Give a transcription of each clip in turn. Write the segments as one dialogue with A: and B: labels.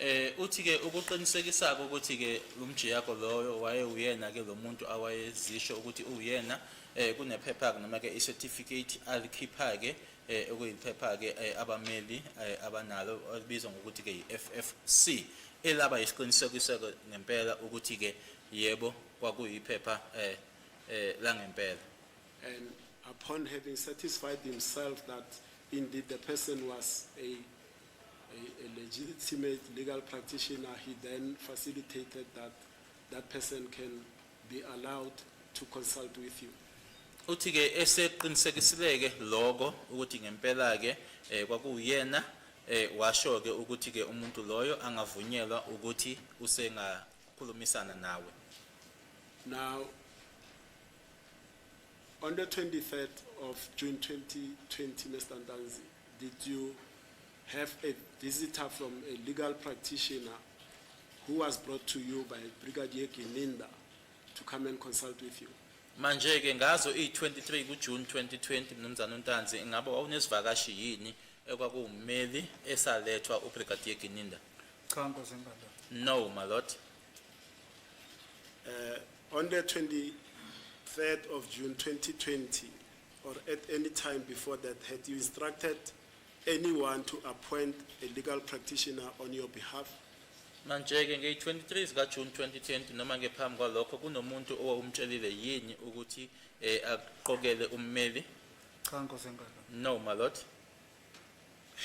A: Eh
B: uthi-ke ukuqinisekisa-ke ukuthi-ke umjiyako loyo wayewuyena-ke lo muntu awayezisho ukuthi uwuyena eh kunephepha-ke noma-ke i-certificate alikhipha-ke eh okuyiphepha-ke eh, abameli eh, abanalo elibizwa ngokuthi-ke yi-FFC elaba yisiqinisekiso-ke ngempela ukuthi-ke yebo kwakuyiphepha eh eh langempela And
A: upon having satisfied himself that indeed the person was a a, a legitimate legal practitioner, he then facilitated that that person can be allowed to consult with you. uthi ke
B: eseqinisekisileke lokho ukuthi ngempela ke eh, kwakuyena eh, washo ke ukuthi ke umuntu loyo angavunyelwa ukuthi usengakhulumisana nawe
A: Now, On the 23rd of June 2020, Mr. Ntanzi, did you have a visitor from a legal practitioner who was brought to you by Brigadier Gininda to come and consult with you? manje ke ngazo
B: iyi-23 kujuni 2020 mnumzane untanzi ingabe wawunesivakashi yini ekwakuwummeli esalethwa ubrigadier gininda cha nkosi
C: enkantolo no my lord
B: uh,
A: On the 23rd of June 2020 or at any time before that had you instructed anyone to appoint a legal practitioner on your behalf? Manje-ke
B: ngeyi-23 zikaJuni 2020 noma ngephambi kwalokho kunomuntu owawumtshelile yini ukuthi eh, aqokele ummeli? Cha Nkosi
C: enkulu. No, my lord.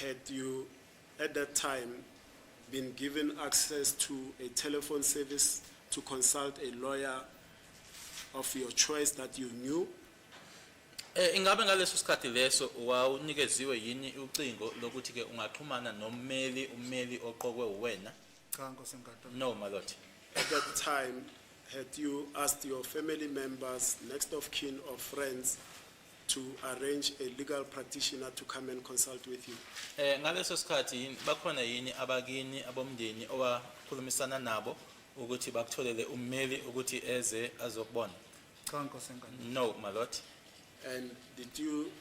A: Had you at that time been given access to a telephone service to consult a lawyer of your choice that you knew? Eh
B: ingabe ngaleso sikhathi leso wawunikeziwe yini ucingo lokuthi ke ungaxhumana nommeli ummeli oqokwe uwena? Cha Nkosi Nkatho.
C: No my lord. At that time
A: had you asked your family members, next of kin or friends to arrange a legal practitioner to come and consult with you. Eh ngaleso sikhathi
B: yini bakhona yini abakini abomndeni owakhulumisana nabo ukuthi bakutholele ummeli ukuthi eze azokubona? Cha nkosi
C: enkulu. No, my lord.
B: And
A: did you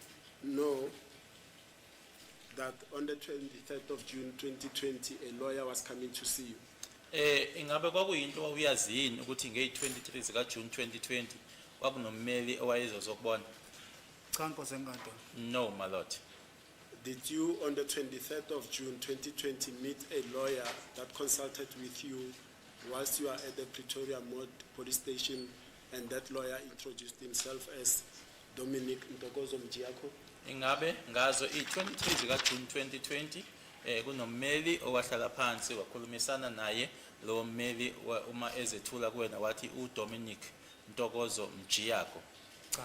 A: know that on the 23rd of June 2020 a lawyer was coming to see you? Eh ingabe kwakuyinto
B: wawuyazi yini ukuthi ngey23 zika June 2020 kwakunommeli owayezozokubona? Cha
C: nkosi enkantolo. No my lord.
B: Did you
A: on the 23rd of June 2020 meet a lawyer that consulted with you whilst you are at the Pretoria Mod police station And that lawyer introduced himself as Dominic Ntokozo Mjiako. Ingabe
B: ngazo i-23 zikaJuni 2020 eh kunommeli owahlala phansi wakhulumisana naye lo mmeli wa- uma ezethula kuwena wathi uDominic Ntokozo Mjiyako. Cha.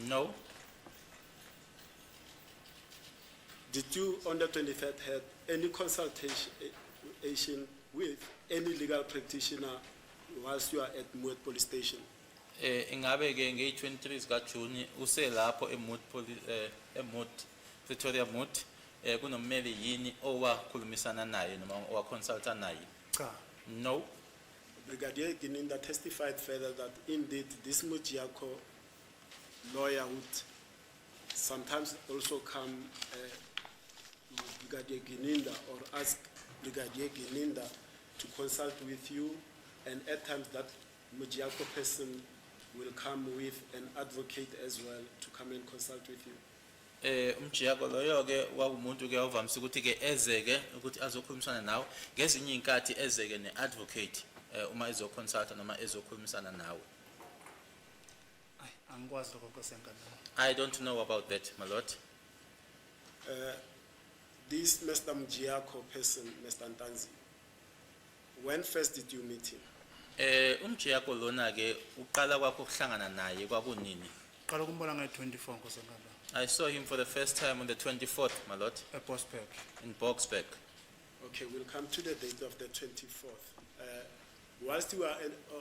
C: No.
A: Did you on the 23rd have any consultation eh, with any legal practitioner whilst you are at Moet Police Station? Eh ingabe
B: ke ngeyi 23 zika June uselapho eMoot Police eh eMoot Pretoria Moot eh kunommeli yini owakhulumisana naye noma owaconsulta naye? Cha. No. Brigadier
A: Gininda testified further that indeed this Mojiyakho lawyer would Sometimes also come uh, Brigadier Gininda or ask Brigadier Gininda to consult with you and at times that Mujiako person will come with an advocate as well to come and consult with you. eh umjiyako
B: loyo ke kwakumuntu ke ovamisa ukuthi ke ezeke ukuthi azokhulumisana nawe ngezinye inkathi ezeke neadvocate eh uma ezoconsulta noma ezokhulumisana nawe Ay,
C: angikwazi lokho Nkosi yankantolo. I don't know about
B: that, my lord. Uh,
A: this Mr. Mjiako person, Mr. Ntanzi, when first did you meet him? Eh, umjiyako
B: lona ke uqala kwakho ukuhlangana naye kwakunini? Qala ukumbona ngayi 24
C: Nkosi yankantolo. I saw him for the
B: first time on the 24th, my lord, Eposberg. in
C: Boxburg.
B: Okay,
A: we'll come to the date of the 24th. Uh, whilst you were in, uh,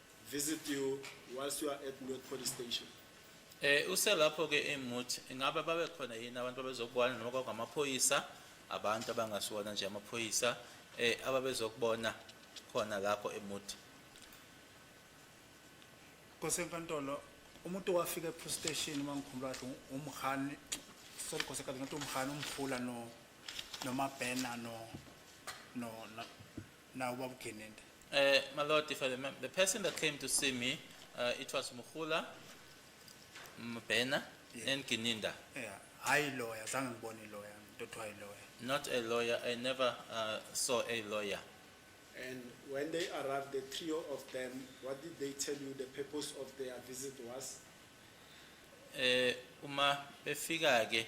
A: visit you whilst you are at North Police Station. Eh uselapho
B: ke eMut ingabe babe khona yini abantu abezokubona noma kwakungamaphoyisa abantu abangasiwona nje amaphoyisa eh ababezokubona khona lapho eMut.
C: Kosenkantolo umuntu wafika ePro Station mangikhumbula ukuthi umhani sorry kosenkantolo ngathi umhani umhula no noma banner no no na ubaba ugenende Uh, my lord,
B: if I remember, the person that came to see me, uh, it was Mukula, Mbena, Yeah. and Gininda. yeah hayi
C: lawyer zange ngibone ilawyer into othiwa ilawyer Not a lawyer. I
B: never uh, saw a lawyer. And
A: when they arrived, the trio of them, what did they tell you the purpose of their visit was? Eh
B: uma befika ke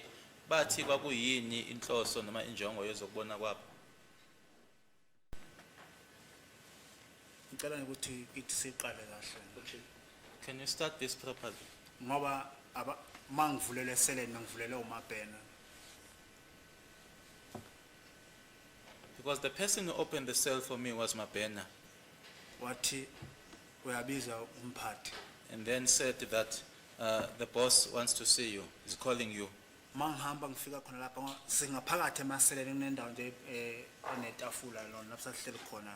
B: bathi kwakuyini inhloso noma injongo yezokubona kwabo.
C: ngicela ukuthi ithi siqale kahle okay
A: can you start
B: this properly ngoba
C: aba mangivulele seleni mangivulele umabhena
B: because the person who opened the cell for me was Mabena wathi
C: uyabiza umphathi and then said
B: that uh, the boss wants to see you he's calling you uma ngihamba ngifika
C: khona lapha singaphakathi emaseleni kunendawo nje eh, enetafula lona lapho sahleli khona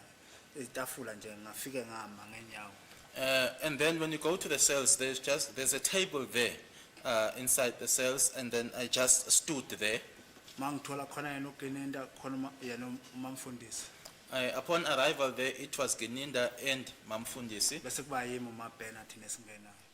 C: itafula nje ngafike ngama ngenyawo Uh, and then
B: when you go to the cells, there's just there's a table there uh, inside the cells, and then I just stood there. mangithola khona
C: yena ugenenda khona uma- yena umamfundisi I, upon
B: arrival there, it was Geninda and Mamfundisi. bese kuba yimi
C: umabhena thina esingenayo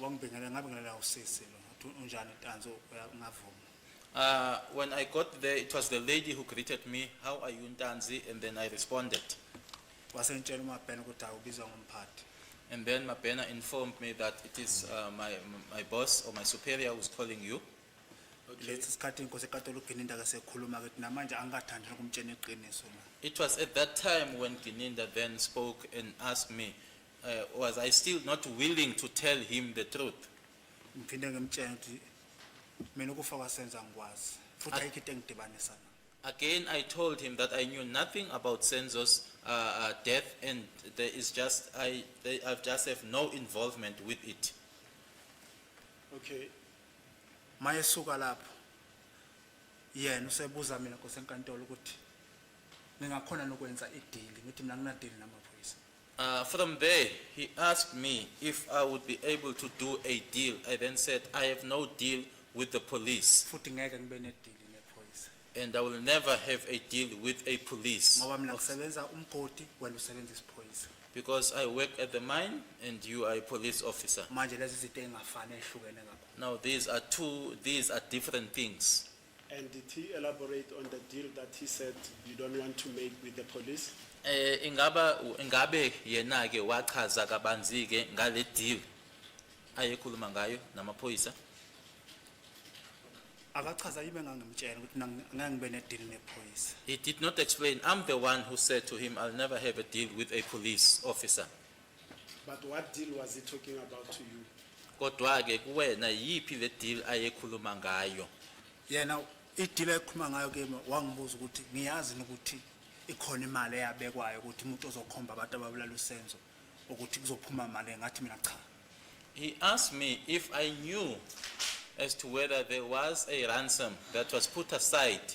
C: wangibingelela ngabingelela usisi lo ngathi unjani tanzi ungavuma Uh, when I got
B: there, it was the lady who greeted me, how are you Ntanzi? And then I responded. wasengitshela
C: umabhena ukuthi hayi ubizwa ngomphathi And then Mabena
B: informed me that it is uh, my, my boss or my superior who's calling you. lesi
C: sikhathi inkosi ekatolo ugininda ke sekhuluma ke namanje angikathandi nokumtshena iqiniso la It was at that
B: time when Gininda then spoke and asked me Uh, was I still not willing to tell him the truth? Ngiphinde
C: ngimtshela ukuthi mina ukufa kwasenza ngikwazi futhi ayikho into engidibanisa nayo. Again, I
B: told him that I knew nothing about Senzo's uh, uh, death, and there is just I, they, I just have no involvement with it.
A: Okay.
C: Mayesuka lapho. Yena usebuza mina nkosi enkantolo ukuthi ningakhona nokwenza ideal ngithi mina ngina deal namaphoyisa. Uh, from there,
B: he asked me if I would be able to do a deal. I then said, I have no deal with the police, futhi ngeke ngibe
C: nedili nephoyisa and I will never
B: have a deal with a police ngoba mina ngisebenza
C: umgodi wena usebenza isiphoyisa because I work
B: at the mine and you are a police officer. manje lezi zinto
C: engafani ehlukene kakhulu Now, these are two,
B: these are different things. And did he
A: elaborate on the deal that he said you don't want to make with the police? Eh ingaba
B: ingabe yena ke wachaza kabanzi ke ngale deal ayekhuluma ngayo namaphoyisa.
C: Akachaza yime ngangimtshela ukuthi nang- ngangibe ne deal nephoyisa. He did not explain.
B: I'm the one who said to him I'll never have a deal with a police officer. But
A: what deal was he talking about to you? kodwa ke
B: kuwena yiphi le deal ayekhuluma ngayo yena
C: idila ekhuluma ngayo kimi wangibuza ukuthi ngiyazi yini ukuthi ikhona imali eyabekwayo ukuthi umuntu ozokhomba abantu ababulala usenzo ukuthi kuzophuma imali ngathi mina cha he asked
B: me if i knew as to whether there was a ransom that was put aside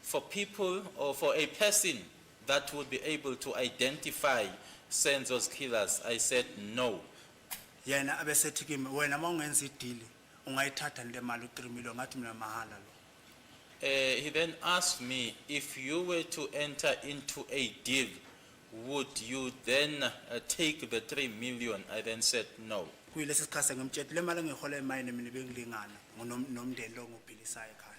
B: for people or for a person that would be able to identify Senzo's killers. I said no. yena
C: abesethi kimi wena uma ungenza idili ungayithatha le mali u-3 million ngathi mina mahhala lo Uh, he
B: then asked me if you were to enter into a deal, would you then uh, take the 3 million? I then said no. kuyilesi sikhathi engimtshela
C: le mali engiyihola emayini mina bengilingana ngonom- nomndeni lo ngobhilisayo ekhaya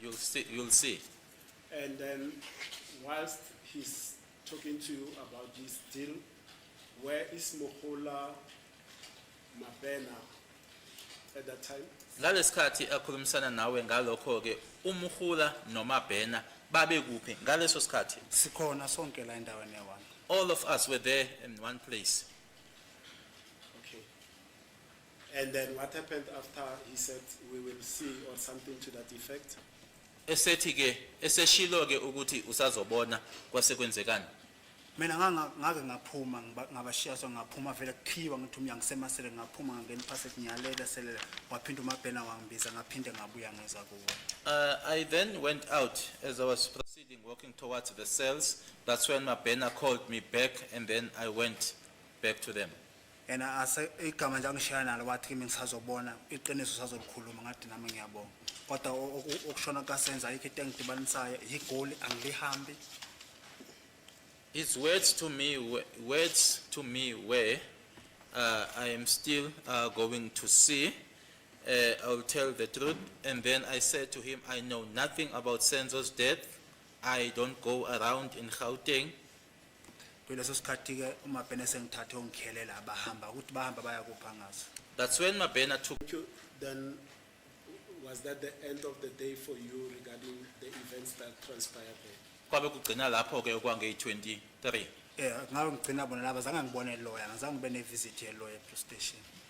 B: You'll see, you'll see. And then
A: whilst he's talking to you about this deal, where is Mohola Mabena at that time? Ngalesikhathi
B: akhulumisana nawe ngalokho ke umhula nomabhena babe kuphi ngaleso sikhathi? Sikhona sonke
C: la endaweni yabantu. All of us were
B: there in one place.
A: Okay. And then what happened after he said we will see or something to that effect? esethi ke
B: eseshilo ke ukuthi usazobona kwase kwenzekani mina
C: nganga- ngake ngaphuma ngiba- ngabashiya so ngaphuma vele kukhiwa ngithi umya ngisemasele ngaphuma ngangena iphasethi ngiyalele selele waphinda umabhena wangibiza ngaphinde ngabuya ngeza kuwo Uh, I then went
B: out as I was proceeding, walking towards the cells. That's when Mabena called me back, and then I went back to them. yena ase
C: igama nje angishaya nalo wathi kimi ngisazobona iqiniso sazolikhuluma ngathi nami ngiyabonga kodwa o- oku- okushona kasenza ayikho into engidibanisayo yigoli angilihambi
B: His words to me, were- words to me were, uh, I am still uh, going to see. Uh, I will tell the truth. And then I said to him, I know nothing about Senzo's death. I don't go around in Gauteng.
C: kuleso sikhathi-ke umabhena esengithathe ongikhelela abahamba ukuthi bahamba bayakupha ngazo That's when Mabena
B: took Thank you. Then,
A: was that the end of the day for you regarding the events that transpired there? kwabe kugcina lapho
B: ke okwangeyi-23 um ngabe
C: ngigcina bona laba zange ngibone loya ngizange ngibe nevisit yeloya epolice station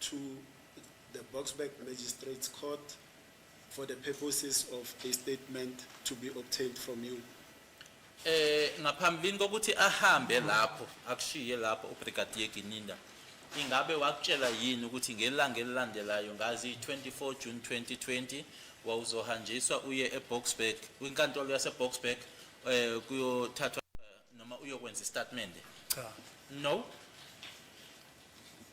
A: to the Boksburg Magistrates Court for the purposes of a statement to be obtained from you. Eh ngaphambilini
B: kokuthi ahambe lapho akushiye lapho uBrigadier Gininda ingabe wakutshela yini ukuthi ngelanga elilandelayo ngazi 24 June 2020 wawuzohanjiswa uye eBoksburg kwinkantolo yaseBoksburg eh kuyothathwa noma uyokwenza istatement cha
C: no